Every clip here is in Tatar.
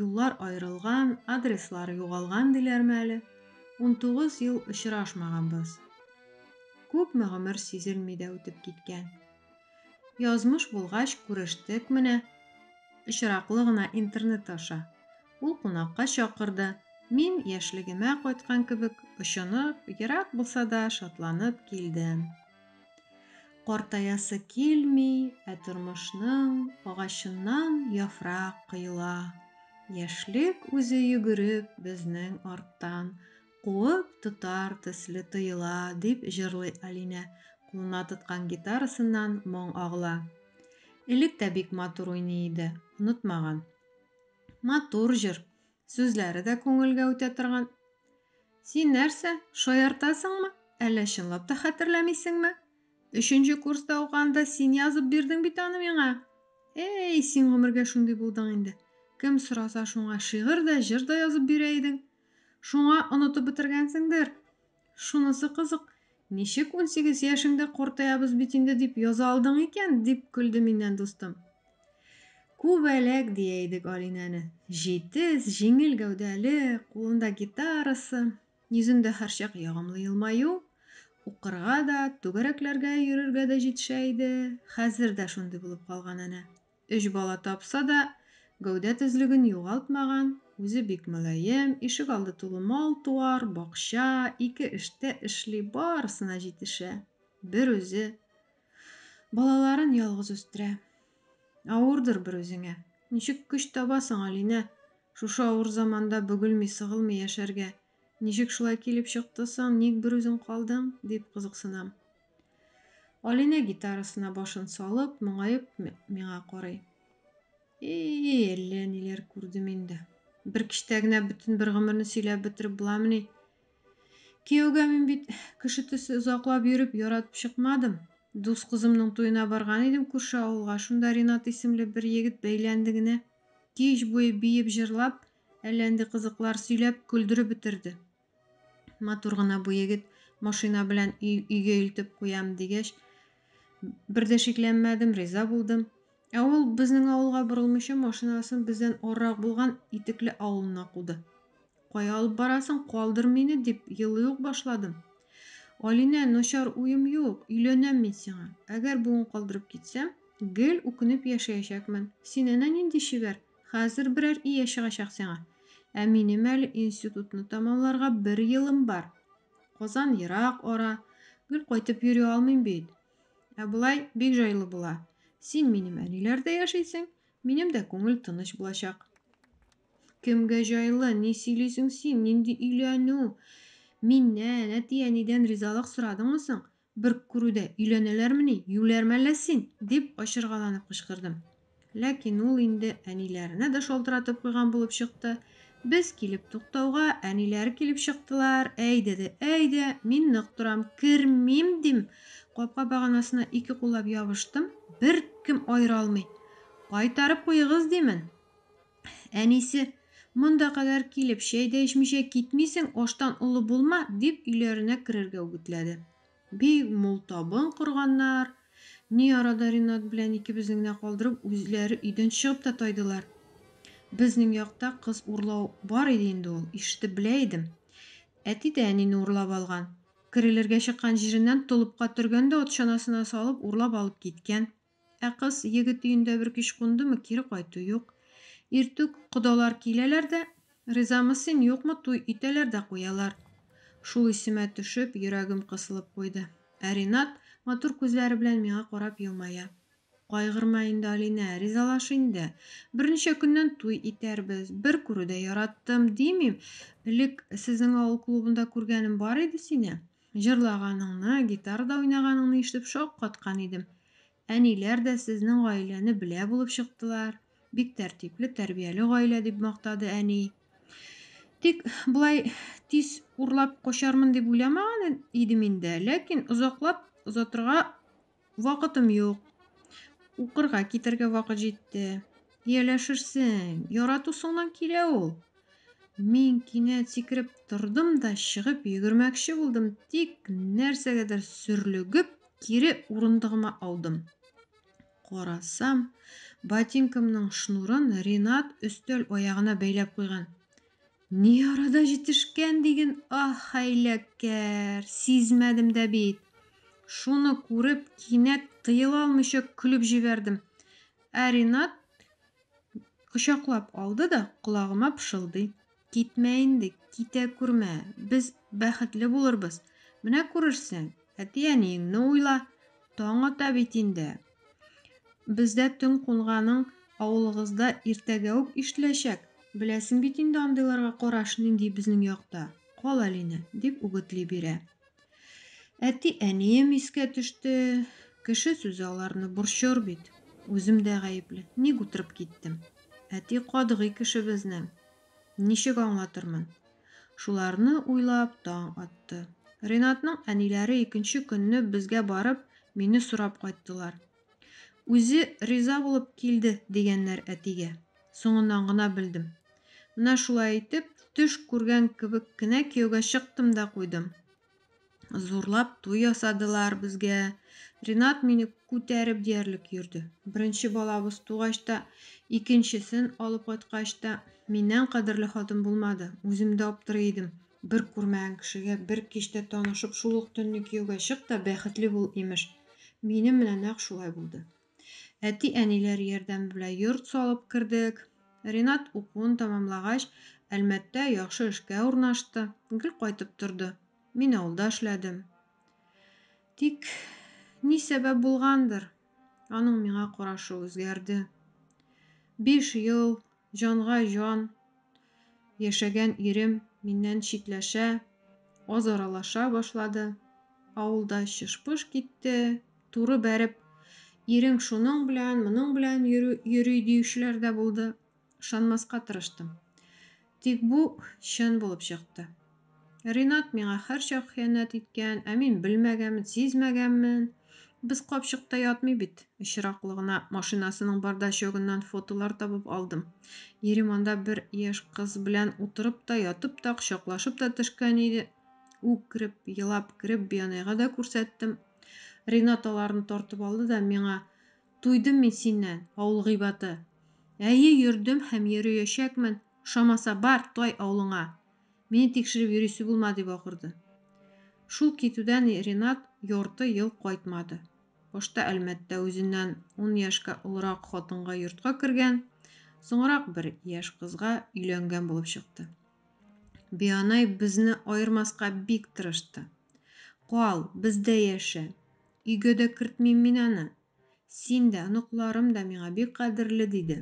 Юллар аерылган, адреслар югалган диләрме әле? Унтугыз ел очрашмаганбыз. Күпме гомер сизелми дә үтеп киткән. Язмыш булгач, күрештек менә. Очраклы гына интернет аша. Ул кунакка чакырды. Мин, яшьлегемә кайткан кебек, очынып, ерак булса да, шатланып килдем. Картаясы килми, ә тормышның агачыннан яфрак коела. Яшьлек үзе йөгереп безнең арттан, куып тотар төсле тоела, дип җырлый Алинә, кулына тоткан гитарасыннан моң агыла. Элек тә бик матур уйный иде, онытмаган. Матур җыр! Сүзләре дә күңелгә үтә торган. Син нәрсә, шаяртасыңмы? Әллә чынлап та хәтерләмисеңме? Өченче курста укыганда син язып бирдең бит аны миңа. Эй, син гомергә шундый булдың инде. Кем сораса, шуңа шигырь дә, җыр да язып бирә идең. Шуңа онытып бетергәнсеңдер. Шунысы кызык, ничек унсигез яшеңдә картаябыз бит инде дип яза алдың икән? дип көлде миннән дустым. Күбәләк дия идек Алинәне. Җитез, җиңел гәүдәле, кулында гитарасы, йөзендә һәрчак ягымлы елмаю, укырга да, түгәрәкләргә йөрергә дә җитешә иде, хәзер дә шундый булып калган әнә. Өч бала тапса да, гәүдә төзлеген югалтмаган, үзе бик мөлаем, ишегалды тулы мал-туар, бакча, ике эштә эшли, барысына җитешә. Берүзе. Балаларын ялгыз үстерә. Авырдыр берүзеңә. Ничек көч табасың, Алинә, шушы авыр заманда бөгелми-сыгылмый яшәргә? Ничек шулай килеп чыкты соң, ник бер үзең калдың? дип кызыксынам. Алинә гитарасына башын салып, моңаеп миңа карый. И-и, әллә ниләр күрдем инде. Бер кичтә генә бөтен бер гомерне сөйләп бетереп буламыни? Кияүгә мин бит кеше төсе озаклап йөреп яратып чыкмадым. Дус кызымның туена барган идем күрше авылга, шунда Ринат исемле бер егет бәйләнде генә. Кич буе биеп-җырлап, Әллә инде кызыклар сөйләп, көлдереп бетерде. Матур гына бу егет, машина белән өйгә илтеп куям, дигәч, бер дә шикләнмәдем, риза булдым. Ә ул, безнең авылга борылмыйча, машинасын бездән арырак булган Итекле авылына куды. Кая алып барасың, калдыр мине, дип елый ук башладым. Алинә, начар уем юк, өйләнәм мин сиңа. Әгәр бүген калдырып китсәм, гел үкенеп яшәячәкмен. Син әнә нинди чибәр! Хәзер берәр ия чыгачак сиңа. Ә минем әле институтны тәмамларга бер елым бар. Казан ерак ара, гел кайтып йөри алмыйм бит. Ә болай бик җайлы була. Син минем әниләрдә яшисең, минем дә күңел тыныч булачак. Кемгә җайлы, ни сөйлисең син, нинди өйләнү? Миннән, әти-әнидән ризалык сорадыңмы соң? Бер күрүдә өйләнәләрмени, юләрме әллә син? дип ачыргаланып кычкырдым. Ләкин ул инде әниләренә дә шалтыратып куйган булып чыкты. Без килеп туктауга, әниләре килеп чыктылар, Әйдә дә әйдә, мин нык торам, кермим, дим. Капка баганасына ике куллап ябыштым, беркем аера алмый. Кайтарып куегыз, димен. Әнисе, Монда кадәр килеп, чәй дә эчмичә китмисең, аштан олы булма, дип өйләренә керергә үгетләде. Бик мул табын корганнар. Ни арада Ринат белән икебезне генә калдырып, үзләре өйдән чыгып та тайдылар. Безнең якта кыз урлау бар иде инде ул, ишетеп белә идем. Әти дә әнине урлап алган. Керелергә чыккан җиреннән толыпка төргән дә ат чанасына салып урлап алып киткән. Ә кыз егет өендә бер кич кундымы, кире кайту юк. Иртүк кодалар киләләр дә, ризамы син, юкмы, туй итәләр дә куялар. Шул исемә төшеп, йөрәгем кысылып куйды. Ә Ринат матур күзләре белән миңа карап елмая. Кайгырма инде, Алинә, ризалаш инде. Берничә көннән туй итәрбез. Бер күрүдә яраттым, димим. Элек сезнең авыл клубында күргәнем бар иде сине. Җырлаганыңны, гитарада уйнаганыңны ишетеп шаккаткан идем. Әниләр дә сезнең гаиләне белә булып чыктылар. Бик тәртипле, тәрбияле гаилә, дип мактады әни. Тик болай тиз урлап качармын дип уйламаган идем инде, ләкин озаклап озатырга Вакытым юк. Укырга китәргә вакыт җитте. Ияләшерсең, яратусыңнан килә ул. Мин кинәт сикереп тордым да чыгып йөгермәкче булдым, тик нәрсәгәдер сөрлегеп, кире урындыгыма аудым. Карасам, ботинкамның шнурын Ринат өстәл аягына бәйләп куйган. Ни арада җитешкән диген, аһ, хәйләкәр, сизмәдем дә бит. Шуны күреп, кинәт тыела алмыйча көлеп җибәрдем. Ә Ринат кочаклап алды да колагыма пышылдый. Китмә инде, китә күрмә, без бәхетле булырбыз. Менә күрерсең, әти-әниеңне уйла, таң ата бит инде. Бездә төн кунганың авылыгызда иртәгә үк ишетеләчәк. Беләсең бит инде андыйларга караш нинди безнең якта. Кал әлине, дип үгетли бирә. Әти-әнием искә төште. Кеше сүзе аларны борчыр бит. Үзем дә гаепле. Ник утырып киттем. Әти катгый кеше безнең. Ничек аңлатырмын? Шуларны уйлап таң атты. Ренатның әниләре икенче көнне безгә барып, мине сорап кайттылар. Үзе риза булып килде, дигәннәр әтигә. Соңыннан гына белдем. Менә шулай итеп, төш күргән кебек кенә кияүгә чыктым да куйдым. Зурлап туй ясадылар безгә. Ринат мине күтәреп диярлек йөрде. Беренче балабыз тугач та, икенчесен алып кайткач та, миннән кадерле хатын булмады. Үзем дә аптырый идем. Бер күрмәгән кешегә бер кичтә танышып, шул ук төнне кияүгә чык та бәхетле бул, имеш. Минем менә нәкъ шулай булды. Әти-әниләр ярдәме белән йорт салып кердек. Ринат укуын тәмамлагач, Әлмәттә яхшы эшкә урнашты. Гел кайтып торды. Мин авылда эшләдем. Тик ни сәбәп булгандыр, аның миңа карашы үзгәрде. Биш ел Җанга җан, яшәгән ирем миннән читләшә, аз аралаша башлады. Авылда чыш-пыш китте. Туры бәреп, ирең шуның белән, моның белән йөри диючеләр дә булды. Ышанмаска тырыштым. Тик бу чын булып чыкты. Ринат миңа һәрчак хыянәт иткән, ә мин белмәгәнмен, сизмәгәнмен. Без капчыкта ятмый бит. Очраклы гына машинасының бардачогыннан фотолар табып алдым. Ирем анда бер яшь кыз белән утырып та, ятып та, кочаклашып та төшкән иде. Үкереп, елап кереп, Бианайга да күрсәттем. Ринат аларны тартып алды да миңа, Туйдым мин синнән, авыл гыйбаты. Әйе, йөрдем һәм йөреячәкмен. Ошамаса, бар, тай авылыңа. Мине тикшереп йөрисе булма, дип акырды. Шул китүдән Ренат ярты ел кайтмады. Башта Әлмәттә үзеннән ун яшькә олырак хатынга йортка кергән, соңрак бер яшь кызга өйләнгән булып чыкты. Бианай безне аермаска бик тырышты. Кал, бездә яшә. Өйгә дә кертмим мин аны, Син дә, оныкларым да миңа бик кадерле, диде.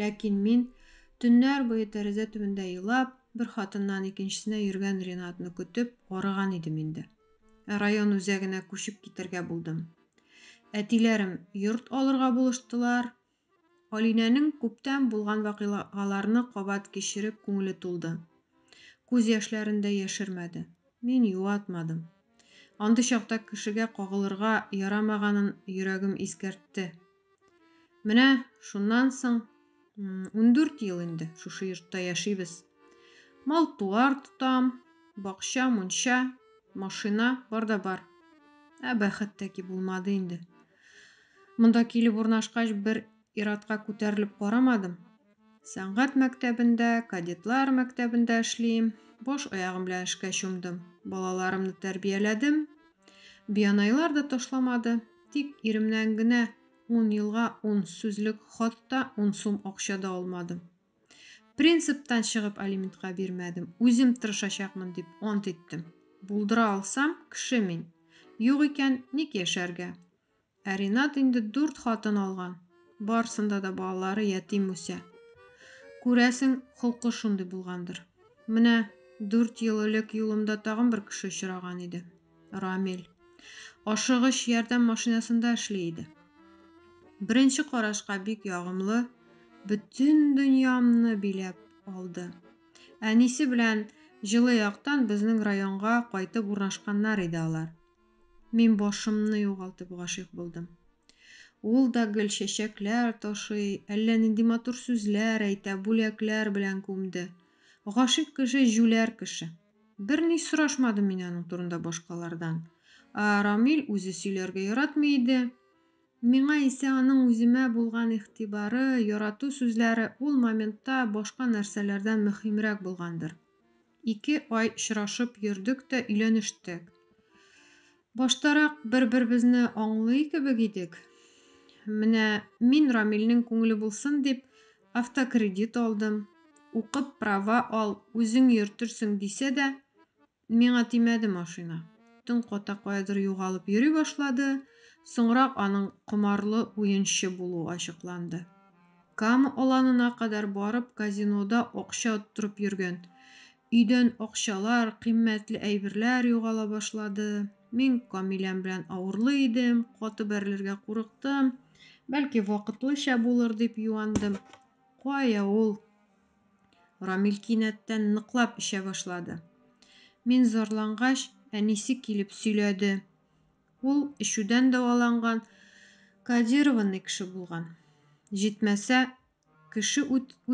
Ләкин мин, төннәр буе тәрәзә төбендә елап, бер хатыннан икенчесенә йөргән Ринатны көтеп, арыган идем инде. Ә район үзәгенә күчеп китәргә булдым. Әтиләрем йорт алырга булыштылар, Алинәнең күптән булган вакыйгаларны кабат кичереп күңеле тулды. Күз яшьләрен дә яшермәде. Мин юатмадым. Андый чакта кешегә кагылырга ярамаганын йөрәгем искәртте. Менә шуннан соң ундүрт ел инде шушы йортта яшибез. Мал-туар тотам, бакча-мунча, машина бар да бар. Ә бәхет тәки булмады инде. Монда килеп урнашкач, бер ир-атка күтәрелеп карамадым. Сәнгать мәктәбендә, кадетлар мәктәбендә эшлим. Баш аягым белән эшкә чумдым. Балаларымны тәрбияләдем. Бианайлар да ташламады. Тик иремнән генә ун елга ун сүзлек хат та, ун сум акча да алмадым. Принциптан чыгып алиментка бирмәдем, үзем тырышачакмын дип ант иттем. Булдыра алсам, кеше мин. Юк икән, ник яшәргә? Ә Ринат инде дүрт хатын алган. Барсында да балалары ятим үсә. Күрәсең, холкы шундый булгандыр. Менә дүрт ел элек юлымда тагын бер кеше очраган иде. Рамил. Ашыгыч ярдәм машинасында эшли иде. Беренче карашка бик ягымлы, бөтен дөньямны биләп алды. Әнисе белән җылы яктан безнең районга кайтып урнашканнар иде алар. Мин башымны югалтып гашыйк булдым. Ул да гел чәчәкләр ташый, әллә нинди матур сүзләр әйтә, бүләкләр белән күмде. Гашыйк кеше җүләр кеше. Берни сорашмадым мин аның турында башкалардан. Ә Рамил үзе сөйләргә яратмый иде. Миңа исә аның үземә булган игътибары, ярату сүзләре ул моментта башка нәрсәләрдән мөһимрәк булгандыр. Ике ай очрашып йөрдек тә өйләнештек. Баштарак бер-беребезне аңлый кебек идек. Менә мин Рамилнең күңеле булсын дип, автокредит алдым. Укып права ал, үзең йөртерсең, дисә дә, миңа тимәде машина. Төн ката каядыр югалып йөри башлады, соңрак аның комарлы уенчы булуы ачыкланды. Кама Аланына кадәр барып, казинода акча оттырып йөргән. Өйдән акчалар, кыйммәтле әйберләр югала башлады. Мин Камиләм белән авырлый идем, каты бәрелергә курыктым. Бәлки, вакытлыча булыр дип юандым. Кая ул! Рамил кинәттән ныклап эчә башлады. Мин зарлангач, әнисе килеп сөйләде. Ул эчүдән дәваланган, кодированный кеше булган. Җитмәсә, Кеше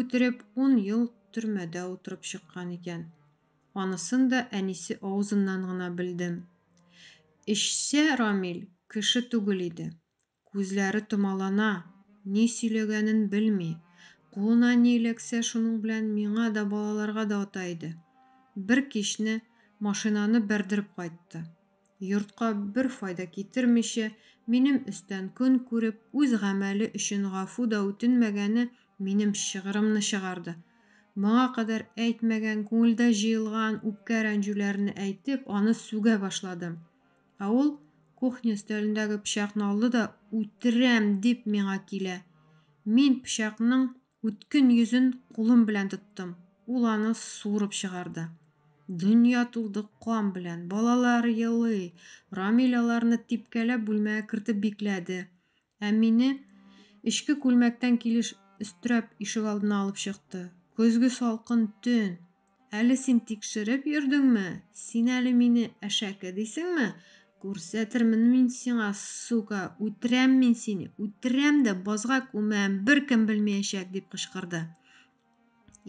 үтереп, ун ел төрмәдә утырып чыккан икән. Анысын да әнисе авызыннан гына белдем. Эчсә, Рамил кеше түгел иде. Күзләре томалана, ни сөйләгәнен белми, кулына ни эләксә, шуның белән миңа да, балаларга да ата иде. Бер кичне машинаны бәрдереп кайтты. Йортка бер файда китермичә, минем өстән көн күреп, үз гамәле өчен гафу да үтенмәгәне минем шыгырымны чыгарды. Моңа кадәр әйтмәгән, күңелдә җыелган үпкә-рәнҗүләрне әйтеп, аны сүгә башладым. Ә ул кухня өстәлендәге пычакны алды да, Үтерәм! дип миңа килә. Мин пычакның. Үткен йөзен кулым белән тоттым. Ул аны суырып чыгарды. Дөнья тулды кан белән. Балалар елый. Рамил аларны типкәләп бүлмәгә кертеп бикләде. Ә мине эчке күлмәктән килеш өстерәп ишегалдына алып чыкты. Көзге салкын төн. Әле син тикшереп йөрдеңме? Син әле мине әшәке дисеңме? Күрсәтермен мин сиңа, сука, үтерәм мин сине, үтерәм дә базга күмәм, беркем белмәячәк, дип кычкырды.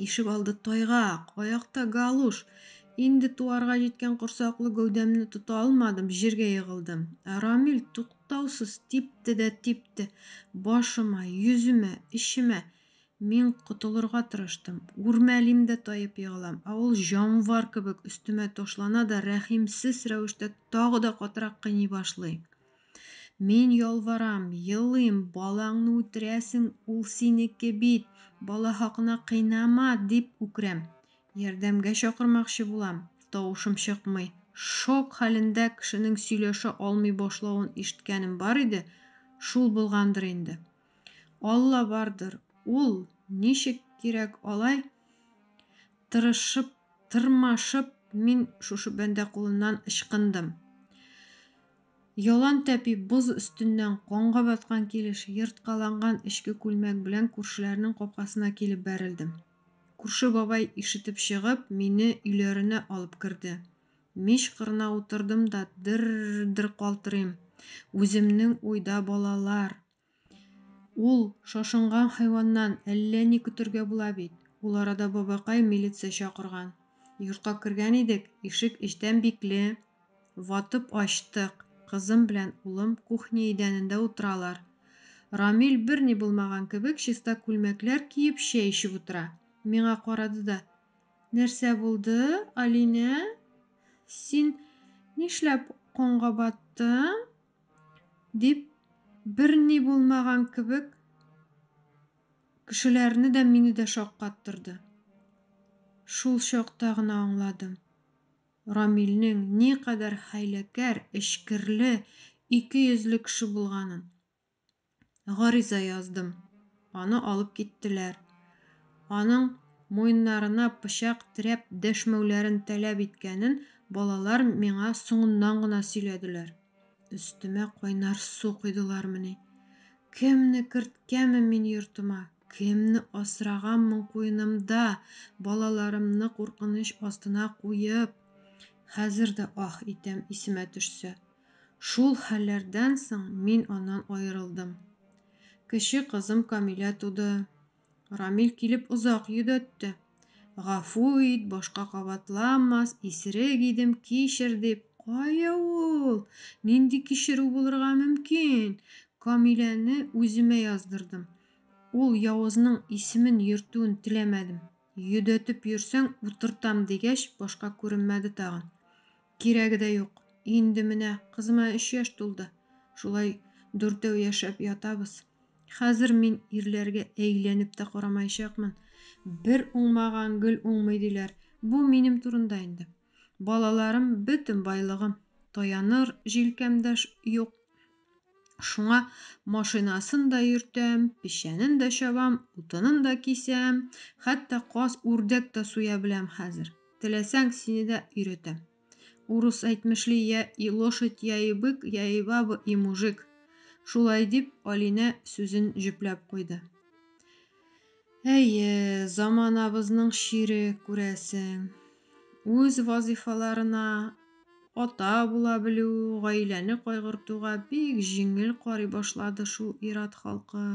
Ишек алды тайгак, аякта галуш. Инде туарга җиткән корсаклы гәүдәмне тота алмадым, җиргә егылдым. Ә Рамил туктаусыз типте дә типте. Башыма, йөземә, эчемә. Мин котылырга тырыштым. Үрмәлим дә таеп егылам, ә ул җанвар кебек өстемә ташлана да рәхимсез рәвештә тагы да катырак кыйный башлый. Мин ялварам, елыйм, балаңны үтерәсең, ул синеке бит, бала хакына кыйнама, дип үкерәм. Ярдәмгә чакырмакчы булам, тавышым чыкмый. Шок хәлендә кешенең сөйләшә алмый башлавын ишеткәнем бар иде, шул булгандыр инде. Алла бардыр, ул, ничек кирәк алай, тырышып, тырмашып мин шушы бәндә кулыннан ычкындым. Ялан тәпи боз өстеннән канга баткан килеш ерткаланган эчке күлмәк белән күршеләрнең капкасына килеп бәрелдем. Күрше бабай ишетеп чыгып, мине өйләренә алып керде. Мич кырына утырдым да дер-дер калтырыйм. Үземнең уйда балалар. Ул шашынган хайваннан әллә ни көтергә була бит. Ул арада бабакай милиция чакырган. Йортка кергән идек, ишек эчтән бикле. Ватып ачтык. Кызым белән улым кухня идәнендә утыралар. Рамил берни булмаган кебек чиста күлмәкләр киеп чәй эчеп утыра. Миңа карады да. Нәрсә булды, Алинә? Син нишләп канга баттың? дип, берни булмаган кебек, кешеләрне дә, мине дә шаккаттырды. Шул чакта гына аңладым, Рамилнең никадәр хәйләкәр, эчкерле, икейөзле кеше булганын. гариза яздым. Аны алып киттеләр. Аның муеннарына пычак терәп дәшмәүләрен таләп иткәнен балалар миңа соңыннан гына сөйләделәр. Өстемә кайнар су койдылармыни? Кемне керткәнмен мин йортыма? Кемне асраганмын куенымда, балаларымны куркыныч астына куеп? Хәзер дә аһ итәм, исемә төшсә. Шул хәлләрдән соң мин аннан аерылдым. Кече кызым Камилә туды. Рамил килеп озак йөдәтте. Гафу ит, башка кабатламас, исерек идем, кичер, дип. Кая ул! Нинди кичерү булырга мөмкин! Камиләне үземә яздырдым. Ул явызның исемен йөртүен теләмәдем. Йөдәтеп йөрсәң, утыртам, дигәч, башка күренмәде тагын. Кирәге дә юк. Инде менә кызыма өч яшь тулды. Шулай дүртәү яшәп ятабыз. Хәзер мин ирләргә әйләнеп тә карамаячакмын. Бер уңмаган гел уңмый, диләр. Бу минем турында инде. Балаларым, бөтен байлыгым. Таяныр җилкәм дә юк. Шуңа машинасын да йөртәм, печәнен дә чабам, утынын да кисәм, хәтта каз, үрдәк тә суя беләм хәзер. Теләсәң, сине дә өйрәтәм. Урыс әйтмешли, я и лошадь, я и бык, я и баба, и мужик. Шулай дип, Алинә сүзен җөпләп куйды. Әйе, заманабызның чире, күрәсең. Үз вазыйфаларына ата була белү гаиләне кайгыртуга бик җиңел карый башлады шул ир-ат халкы.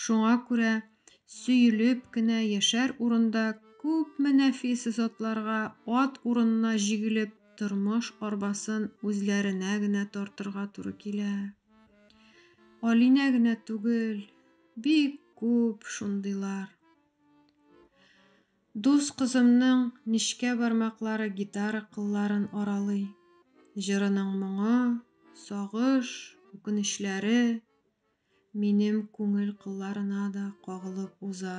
Шуңа күрә сөелеп кенә яшәр урында күпме нәфис затларга ат урынына җигелеп тормыш арбасын үзләренә генә тартырга туры килә. Алинә генә түгел. Бик күп шундыйлар. Дус кызымның нечкә бармаклары гитара кылларын аралый. Җырының моңы, сагыш, үкенечләре минем күңел кылларына да кагылып уза.